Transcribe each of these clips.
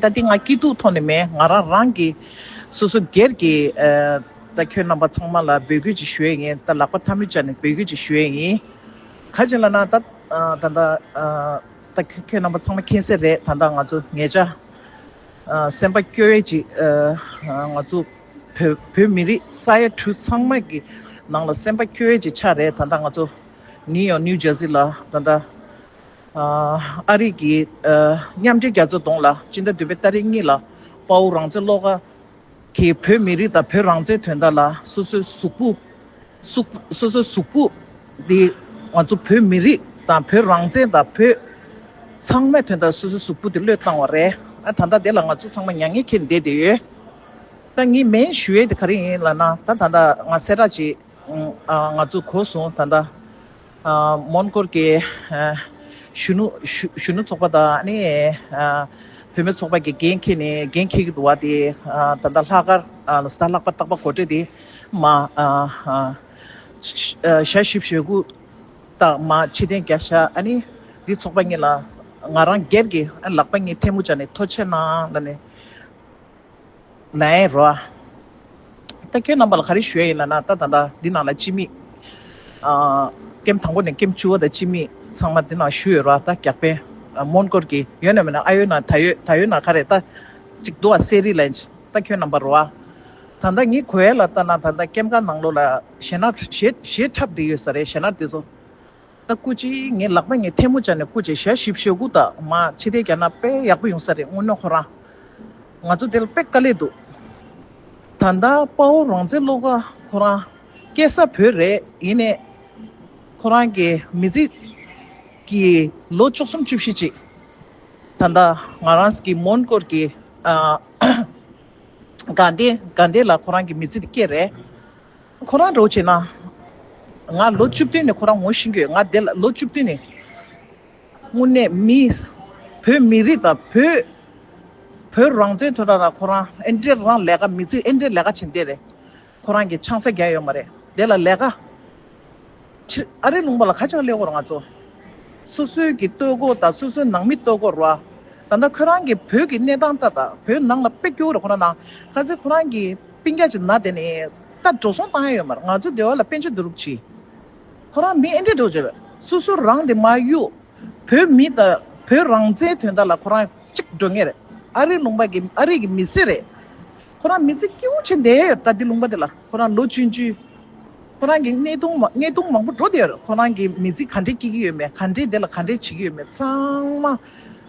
ད་འདི་ང་སྐྱིད་སྡུག་ཐོག་ནས་མེད་ང་རང་རང་གི་སོ་སོ་སྒེར་གྱི་ད་ཁྱོད་རྣམ་པ་ཚང་མ་ལ་འབོད་སྐུལ་ཅིག་ཞུ་ཡས་ཡིན་ད་ལག་པ་ཐ་མི་ཅག་ནས་འབོད་སྐུལ་ཅིག་ཞུ་ཡས་ཡིན་ག་ཅིག་ལ་ན་ད་ད་ད་ད་ཁྱོད་རྣམ་པ་ཚང་མ་མཁྱེན་གསལ་རེད་ད་ད་ང་ཚོ་ངེད་ཅག་སེམས་པ་སྐྱོ་བས་ཅིག་ང་ཚོ་བོད་མི་རིགས་ས་ཡ་དྲུག་ཚང་མ་གི་ནང་ལ་སེམས་པ་སྐྱོ་བས་ཅིག་ཆགས་རེད་ད་ད་ང་ཚོ་ནིའུ་ཡོག་ནིའུ་ཇར་སི་ལ་ད་ད། ཨ་རིག་གིས་མཉམ་འབྲེལ་རྒྱ་མཚོ་གདོང་ལ་སྤྱིན་ཟླ་བདུན་པའི་སྟ་རེ་གཉིས་ལ་དཔའ་བོ་རང་བཙན་བློ་དགའ་གིས་བོད་མི་རིགས་དང་བོད་རང་བཙན་དོན་དག་ལ་སོ་སོའི་གཟུགས་པོ། སོ་སོའི་གཟུགས་པོ། འདི་ང་ཚོ་བོད་མི་རིགས་དང་བོད་རང་བཙན་དང་བོད་ཚང་མའི་དོན་དག་སོ་སོའི་གཟུགས་པོ་དེ་བློས་བཏང་བ་རེད། ད་ལྟ་དེ་ལ་ང་ཚོ་ཚང་མ་མྱ་ངན་ཁེལ་བསྡད་དེ་ཡོད། ད་ངས་མེན་ཞུ་ཡས་དེ་ག་རེ་ཡིན་ལ་ན་ད་ད་ང་གསལ་བསྒྲགས་བྱེད། ང་ཚོ་གོ་སོང་ད་ད། མོན་གྷོར་གྱི་གཞོན་ནུ་གཞོན་ནུ་ཚོགས་པ་དང་བུད་མེད་ཚོགས་པ་ཀྱི་འགན་འཁྱེར་ནས་འགན་འཁྱེར་གྱི་འདུག་བ་དེ་ད་ལྟ་ལྷག་དཀར་ལ་ཟླ་ལྷག་པ་སྟག་པ་གོ་སྤྲེལ་དེ་མ་ཞལ་བཞི་བཞེས་དགུ་དང་མ་ཕྱི་གདན་བརྒྱ་བཞག་ཨ་ནི་འདི་ཚོགས་པ་གཉིས་ལ་ང་རང་སྒེར་གྱི་ལག་པ་གཉིས་ཐལ་མོ་སྦྱར་ནས་ཐོ་ཆེ་གནང་ལ་ནི། ནའི་རོ། ད་ཁྱོད་རྣམ་པ་ལ་ག་རེ་ཞུ་ཡ་ཡིན་ན་ན་ད་ད་ལྟ་འདི་ནང་ལ་ཅི་མིས། སྐེམ་དང་པོ་ནས་སྐེམ་བཅུ་བ་དང་ཅི་མིས་ཚང་མ་འདི་ནང་ཞུ་ཡོད་རོ་ད་རྒྱག་པན། མོན་གོར་གྱི་ཡོད་ན་མེད་ན་ཨ་ཡོད་ན་ད་ཡོད་ད་ཡོད་ན་ག་རེ་ད། ཅིག་འདུག་ཨ་སེ་རི་ལན། ད་ཁྱོད་རྣམ་པ་རོ། ད་ལྟ་ངའི་གོ་ཡ་ལ་ལྟ་ན་ད་ལྟ་སྐེམ་ཁང་ནང་ལོ་ལ་ཞེ་ན་ཞེ་ཞེ་ཁྲབ་འདི་ཡོད་ས་རེད་ཞེ་ན་འདི་ཚོ། ད་སྐུ་ཅི་ངའི་ལག་པ་ངས་ཐལ་མོ་སྦྱར་ནས་སྐུ་ཅེ་ཞལ་ཞིབ་ཞོ་གུ་ད་མ་ཕྱི་ཐལ་རྒྱག་ན་དཔེ་ཡག་པོ་ཡོང་ས་རེད་སྔོན་ནོ་ཁོ་རང་ང་ཚོ་དེ་ལ་དཔེ་དཀའ་ལས་འདུག་ད་ད་དཔའ་བོ་རང་བཙན་སློབ་ག་ཁོ་རང་སྐད་ས་བོད་རེད་ཡིན་ནས་ཁོ་རང་གི་མི་ཚེ་གི་ལོ་བཅུ་གསུམ་བཅུ་བཞི་ཅིག་ད་ད་ང་རང་གི་མོན་སྐོར་གི་དགའ་ལྡན་དགའ་ལྡན་ལ་ཁོ་རང་གི་མི་ཚེ་དེ་སྐྱེལ་རེད། ཁོ་རང་འགྲོ་བྱས་ན། ང་ལོ་བཅུ་བདུན་ནས་ཁོ་རང་ངོ་ཤེས་ཀྱི་ཡོད་ང་དེ་ལ་ལོ་བཅུ་བདུན་ནས། དངོས་གནས་མི། བོད་མི་རིགས་དང་བོད། བོད་རང་བཙན་དོན་དག་ན་ཁོ་རང་ཨེ་འདྲའི་རང་ལས་ཀ་མི་ཚིག་ཨེ་འདྲའི་ལས་ཀ་བྱེད་འདས་རེད། ཁོ་རང་གི་ཆང་ས་རྒྱ་ཡོད་མ་རེད་དེ་ལ་ལས་ཀ། ཕྱིར་ཨ་རིའི་ལུང་པ་ལ་ཁ་ཆག་སླེ་བོར་ང་ཚོ། སོ་སོའི་གི་སྟོད་གོ་དང་སོ་སོའི་ནང་མི་སྟོད་གོར་བ། ད་ལྟ་ཁོད་རང་གི་བོད་གི་གནས་སྟངས་ལྟ་དང་བོད་ནང་ལ་དཔེ་སྐྱོ་ར་ཁོ་ན་ན། ཁ་ཚེ་ཁོ་རང་གི་པིན་རྒྱ་ཆེ་ན་དེ་ནི་ད་འགྲོ་སོང་བཏང་ཡ་ཡོད་མར་ང་ཚོའི་སྡེ་བ་ལ་པེན་ཆེ་འདུ་རུག་གྱིས། ཁོ་རང་མི་ཨེ་འདྲེ་འགྲོ་བྱེད། སོ་སོ་རང་དེ་མ་གཡུག། བོད་མི་ད་བོད་རང་བཙན་དོན་དག་ལ་ཁོ་རང་གཅིག་འགྲོ་ངེས་རེད་ཨ་རིའི་ལུང་པ་གི་ཨ་རིའི་གི་མི་སེར་རེད། ཁོ་རང་མི་ཚེ་སྐྱིད་བོ་བྱས་འདས་ཡོད་ད་དེ་ལུང་པ་དེ་ལ་ཁོ་རང་ལོ་བཅུ་བཅུ། ཁོ་རང་གི་གནས་སྟུང་མ་གནས་སྟུང་མང་པོ་འགྲོ་དེ་ཡོད་ཁོ་རང་གི་མི་ཚེ་ག་འདྲས་སྐྱིད་ཀྱི་ཡོད་མེད་ག་འདྲས་དེ་ལ་ག་འདྲས་བྱེད་ཀྱི་ཡོད་མེད་ཚང་མ་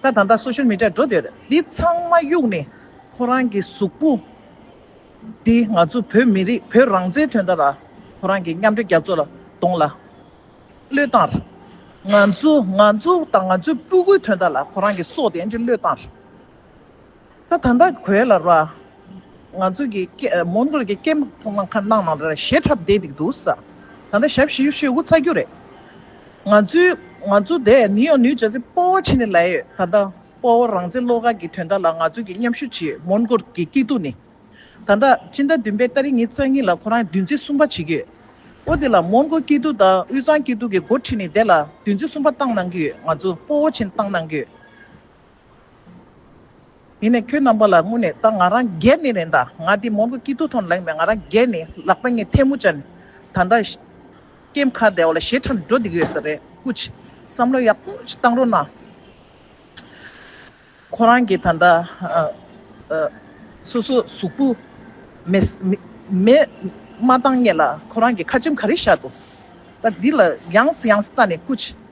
ད་ད་ལྟ Social Media འགྲོ་དེ་ཡོད་དེ་ཚང་མ་གཡུག་ནས་ཁོ་རང་གི་གཟུགས་པོ་དེ་ང་ཚོ་བོད་མི་རིགས་བོད་རང་བཙན་དོན་དག་ལ་ཁོ་རང་གི་མཉམ་འབྲེལ་རྒྱ་མཚོ་ལ་གདོང་ལ་གློད་བཏང་ར་ང་ཚོ་ང་ཚོ་དང་ང་ཚོའི་སྤུ་གུའི་དོན་དག་ལ་ཁོ་རང་གི་སྲོག་དེ་འདྲས་གློད་བཏང་ར། ད་ད་ད་གོས་ལ་ར། ང་ཚོ་གི་སྐད་མོ་མདོ་གི་སྐད་མོ་ཐོག་མ་ཁ་ནང་ན་ར་ཞེ་ཁྲབ་བསྡད་འདུག་འདུག་ས། ད་ད་ཞབས་བཞི་ཡུ་ཤེ་ཧུ་ཚ་རྒྱུ་རེད། ང་ཚོའི་ང་ཚོ་དེ་ནི་ཡོ་ནུའི་ཇ་ཚི་སྤོ་བོ་ཆེ་ནི་ལ་ཡོད་ད་ད་སྤོ་བོ་རང་ཚེ་བློ་དགའ་གི་དོན་དག་ལ་ང་ཚོ་གི་མཉམ་ཞུ་བྱེད་མོ་མདོ་གི་སྐྱིད་སྡུག་ནི། ད་ད་སྤྱི་ཟླ་བདུན་པའི་ལྟ་རི་ཉིན་རྩ་གཉིས་ལ་ཁོ་རང་བདུན་ཚིགས་གསུམ་པ་བྱེད་ཀྱི་ཡོད། འོ་དེ་ལ་མོ་མདོ་སྐྱིད་སྡུག་དང་དབུས་གཙང་སྐྱིད་སྡུག་གི་འགོ་ཁྲིད་ནི་དེ་ལ་བདུན་ཚིགས་གསུམ་པ་བཏང་གནང་གི་ཡོད་ང་ཚོ་སྤོ་བོ་ཆེ་ནི་བཏང་གནང་གི་ཡོད། ཡིན་ནས་ཁྱོད་རྣམ་པ་ལ་སྔུན་ནས་ད་ང་རང་རྒྱལ་ནི་རེད་ད་ང་འདི་མོར་གོ་སྐྱིད་ཐུག་ཐོང་ལེང་མེད་ང་རང་རྒྱལ་ནི་ལག་པ་ངས་ཐལ་མོ་བཅག་ནི་ད་ལྟ་སྐྱེ་མཁའ་བདེ་བ་ལ་ཞེ་ཁྲམ་འགྲོ་བསྡད་ཀྱི་ཡོད་ས་རེད་ཀུ་ཅི་བསམ་བློ་ཡག་པོ་ཅིག་བཏང་རོགས་གནང། ཁོ་རང་གི་ད་ལྟ་སོ་སོ་གཟུགས་པོ་མེད་མ་བཏང་ངེས་ལ་ཁོ་རང་གི་ཁ་ཆེམས་ག་རེ་བཞག་འདུག་ད་འདི་ལ་ཡངས་སུ་ཡངས་སུ་བལྟ་ནི་ཀུ་ཅི།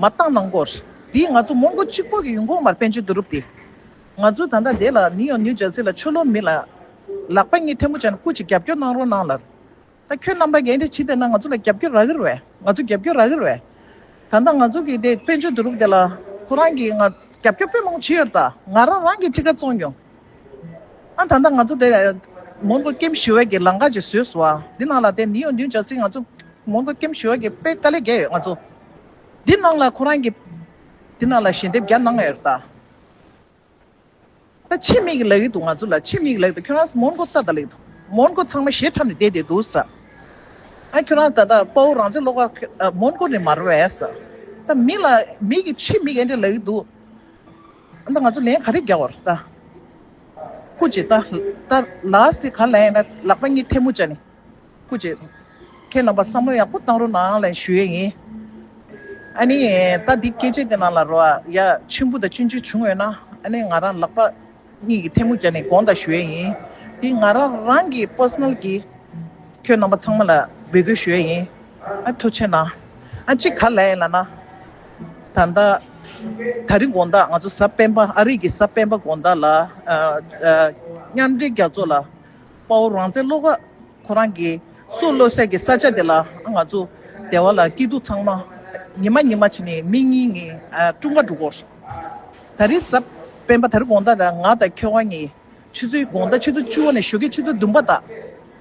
མ་བཏང་ནང་སྐོར། དེས་ང་ཚོ་མོང་གོ་གཅིག་པོ་གི་ཡུལ་གོང་མར་པན་ཆེན་དུ་རུབ་སྟེ། ང་ཚོ་ད་ལྟ་བསྡད་ལ་ནི་ཡང་ནིའུ་ཇར་སི་ལ་ཆོས་ལོག་མི་ལ། ལག་པ་གཉིས་ཐལ་མོ་བྱས་ན་སྐུ་ཅིག་རྒྱབ་སྐྱོར་གནང་རོགས་གནང་ལར། ད་ཁྱོད་རྣམ་པ་འགན་དེ་ཇི་ལྟར་ན་ང་ཚོ་ལ་རྒྱབ་སྐྱོར་རག་གིར་བས་ང་ཚོ་རྒྱབ་སྐྱོར་རག་གིར་བས། ད་ལྟ་ང་ཚོ་གིས་དེད་པན་ཆེན་དུ་རུབ་སྡད་ལ་ཁོ་རང་གིས་ང་རྒྱབ་སྐྱོར་དཔེ་ལོང་བྱེད་ཡོད་ད་ང་རང་རང་གིས་ཁྲི་ཁ་བཙོང་མྱོང། ཨ་ད་ལྟ་ང་ཚོ་དེ་མོན་གྷོ་ཀེམ་ཞི་བའི་གི་ལང་ཀ་ཅིག་བཟོས་སོང་བ་འདི་ནང་ལ་དེ་མི་ཡོང་དུས་འཇགས་ཟིག་ང་ཚོ་མོན་གྷོ་ཀེམ་ཞི་བའི་གི་དཔེ་དཀའ་ལས་བརྒྱ་ཡོད་ང་ཚོ་འདི་ནང་ལ་ཁོ་རང་གི་འདི་ནང་ལ་ཞལ་འདེབས་བརྒྱ་གནང་ཡོད་ད། ད་ཕྱི་མིག་ལེགས་འདུག་ང་ཚོ་ལ་ཕྱི་མིག་ལེགས་འདུག་ཁྱོད་རང་མོན་གྷོ་ས་ད་ལེགས་འདུག་མོན་གྷོ་ཚང་མ་ཞེ་ཁྲམ་ནས་བསྡད་བསྡད་འདུག་ས་ཨ་ཁྱོད་རང་ད་ད་དཔའ་བོ་རང་བཙན་སློག་ཁ་མོན་གྷོ་ནས་མར་བས་ས་ད་མི་ལ་མིག་གི་ཕྱི་མིག་ཨེ་འདྲ་ལེགས་འདུག། ཨ་མདའ་ང་ཚོ་ལན་ག་རེ་རྒྱག་བར་ལྟ། སྐུ་རྗེ་ལྟ། ལྟ། ལགས་དེ་ག་ལ་ཡིན་ན་ལག་པ་གཉིས་ཐལ་མོ་བཅའ་ནི། སྐུ་རྗེ། ཁྱེད་རྣམ་པར་བསམ་བློ་ཡག་པོ་བཏང་རོགས་གནང་ལན་ཞུ་ཡས་ཡིན། ཨ་ནི། ལྟ་འདི་སྐད་ཆས་དེ་ནང་ལ་རོ་ཨ་ཡ་མཆིམས་ཕུ་དང་གཅུན་ཆོད་བྱུང་ཡོད་ན་ཨ་ནི་ང་རང་ལག་པ་གཉིས་ཀྱི་ཐལ་མོ་བརྒྱ་ནི་དགོངས་དག་ཞུ་ཡས་ཡིན། འདི་ང་རང་རང་གི Personal གི་ཁྱོད་རྣམ་པ་ཚང་མ་ལ་འབོད་སྐུལ་ཞུ་ཡས་ཡིན། ཨ་ཐུགས་ཆེ་གནང། ཨ་གཅིག་ག་ལ་ཡིན་ལ་ན། ད་ལྟ། ད་རིང་དགོངས་དག་ང་ཚོ་གཟའ་སྤེན་པ་ཨ་རིག་གི་གཟའ་སྤེན་པ་དགོངས་དག་ལ། མཉམ་འབྲེལ་རྒྱ་མཚོ་ལ། དཔའ་བོ་རང་བཙན་བློ་ཁ། ཁོ་རང་གི། སྲུ་བློ་གསལ་གྱི་ས་ཆ་དེ་ལ་ང་ཚོ། སྡེ་བ་ལ་སྐྱིད་སྡུག་ཚང་མ། ཉི་མ་ཉི་མ་བྱེད་ནི་མི་གཉིས་ངི། ཀྲུང་ག་འགྲོ་སྐོར། ད་རིང་གཟའ། སྤེན་པ་ད་རིང་དགོངས་དག་ལ་ང་དང་ཁྱོད་དབང་ངི། ཆུ་ཚོད་དགོངས་དག་ཆུ་ཚོད་བཅུ་བ་ནས་ཞོ་ཁའི་ཆུ་ཚོད་བདུན་པ་དག།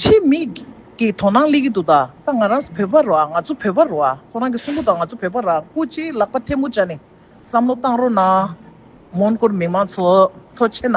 ཆེད་དམིགས་ཀྱིས་དོ་སྣང་གླེང་གི་འདུག་ད་ང་རང་བོད་པ་རོགས་ང་ཚོ་བོད་པ་རོགས་ཁོ་རང་གི་གསུང་པོ་དང་ང་ཚོ་བོད་པ་རང་སྐུ་ཅིག་ལག་པ་ཐལ་མོ་སྦྱར་ནས་བསམ་བློ་བཏང་རོགས་གནང། མོན་གོར་མི་མང་ཚོགས་མཐོ་ཆེ་ན།